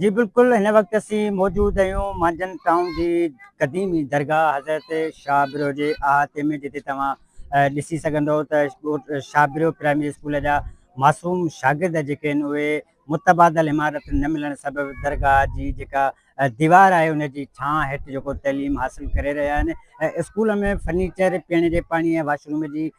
جي بلڪل هن وقت اسين موجود اهيون مانجهند ٽائون جي قديمي درگاهه حضرت شاهه برو جي احاطي ۾ جتي توهان ڏسي سگهندو ته شاهه برو پرائمري اسڪول جا معصوم شاگرد جيڪي آهن اهي متبادل عمارت نه ملڻ سبب درگاهه جي جيڪا ديوار آهي ان جي ڇانء هيٺ جيڪو تعليم حاصل ڪري رهيا آهن اسڪول ۾ فرنيچر پيئڻ جي پاڻي ۽ واشروم جي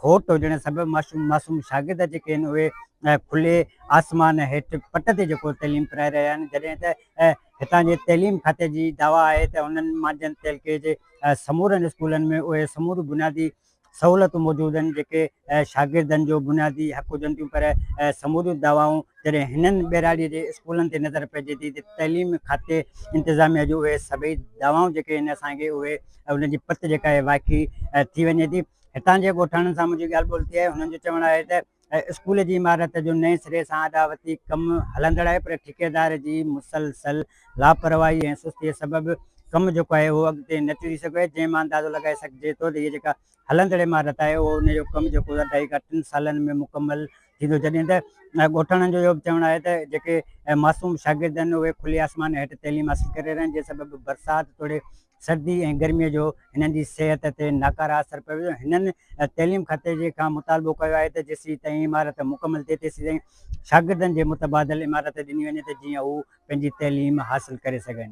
کوٽ هجڻ سبب معصوم شاگرد جيڪي آهن اهي کلي آسمان هيٺ پٽ تي جيڪو تعليم پرائي رهيا آهن جڏهن ته هتان جي تعليم کاتي جي دعويٰ آهي ته هنن مانجهند تعلقي جي سمورن اسڪولن ۾ اهي سموريون بنيادي سهولتون موجود آهن جيڪي شاگردن جو بنيادي حق هجن ٿيون پر سموريون دعوائون جڏهن هنن ٻهراڙيء جي اسڪولن تي نظر پئجي ٿي ته تعليم کاتي انتظاميه جون اهي سڀئي دعوائون جيڪي آهن اسان کي اهي انهن جي پت جيڪا آهي واقعي ٿي وڃي ٿي هتان جي ڳوٺاڻن سان منهنجي ڳالهه ٻولهه ٿي آهي هنن جو چوڻ آهي ته اسڪول جي عمارت جو نئين سري سان اڏاوتي ڪم هلندڙ آهي پر ٺيڪيدار جي مسلسل لاپرواهي ۽ سستيء سبب ڪم جيڪو آهي اهو اڳتي نه ٽڙي سگهيو آهي جنهن مان اندازو لڳائي سگهجي ٿو ته هي جيڪا هلندڙ عمارت آهي اهو ان جو ڪم جيڪو اڍائي کان ٽن سالن ۾ مڪمل ٿيندو جڏهن ته ڳوٺاڻن جو اهو به چوڻ آهي ته جيڪي معصوم شاگرد آهن اهي کلي آسمان هيٺ تعليم حاصل ڪري رهيا آهن جنهن سبب برسات توڙي سردي ۽ گرمي جو هنن جي صحت تي ناڪاره اثر پيو ويو هنن تعليم کاتي جي کان مطالبو ڪيو آهي ته جيسين تائين عمارت مڪمل ٿئي تيسين تائين شاگردن جي متبادل عمارت ڏني وڃي ته جيئن هو پنهنجي تعليم حاصل ڪري سگهن.